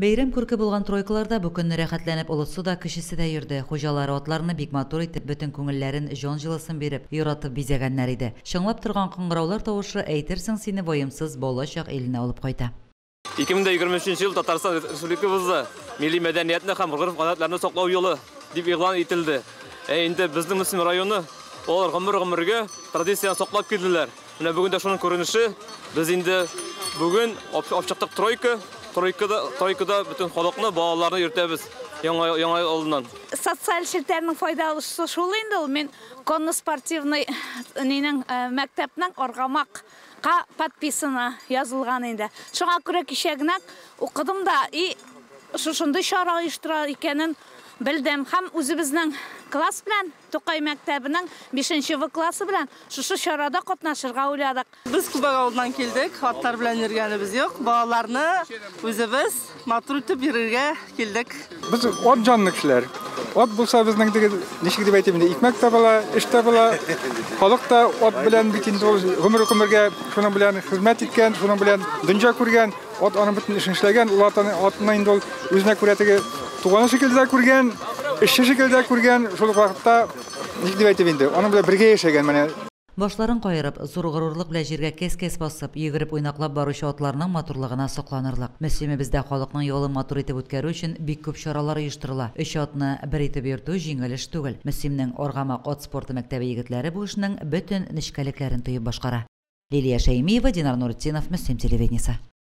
Бәйрәм күрке булган тройкаларда бу көнне рәхәтләнеп олысы да, кечесе дә йөрде. Хуҗалары атларны бик матур итеп, бөтен күңелләрен, җан җылысын биреп, яратып бизәгәннәр иде. Чыңлап торган кыңгыраулар тавышы, әйтерсең, сине ваемсыз бала чак иленә алып кайта. 2023 нче ел Татарстан Республикабызда Милли мәдәниятне һәм гореф-гадәтләрне саклау елы дип игълан ителде. Ә инде безнең Мөслим районы, алар гомер-гомергә традицияне саклап килделәр. Менә бүген дә шуның күренеше. Без инде бүген ачыктык тройка. Тройкада, тройкада бөтен халыкны, балаларны йөртәбез яңа яңа алдыннан. Социаль челтәрнең файдалысы шул инде ул. Мин конно спортивный нинең мәктәпнең аргамак ка подписана язылган инде. Шуңа күрә кичә генә укыдым да и шушындый чара оештыра икәнен белдем. Һәм үзебезнең класс белән Тукай мәктәбенең бишенче В классы белән шушы чарада катнашырга уйладык. Без Күбәк авылыннан килдек, хаттар белән йөргәнебез юк. Балаларны үзебез матур итеп йөрергә килдек. Без ат җанлы кешеләр. Ат булса безнең теге, ничек дип әйтим инде, икмәк тә була, эш тә була. Халык та ат белән бит инде ул гомер-гомергә шуның белән хезмәт иткән, шуның белән дөнҗә күргән. Ат аның бөтен эшен эшләгән, ул атны, атны инде ул үзенә күрә теге туганы шикелле дә күргән, эшче шикелле дә күргән, шул ук вакытта, ник дип әйтим инде, аның белән бергә яшәгән менә. Башларын каерып, зур горурлык белән җиргә кәс-кәс басып, йөгереп-уйнаклап баручы атларның матурлыгына сокланырлык. Мөслимебездә халыкның ялын матур итеп үткәрү өчен бик күп чаралар оештырыла. Өч атны бер итеп йөртү җиңел эш түгел. Мөслимнең Аргамак ат спорты мәктәбе егетләре бу эшнең бөтен нечкәлекләрен тоеп башкара. Лилия Шәймиева, Динар Нуретдинов, Мөслим телевидениесе.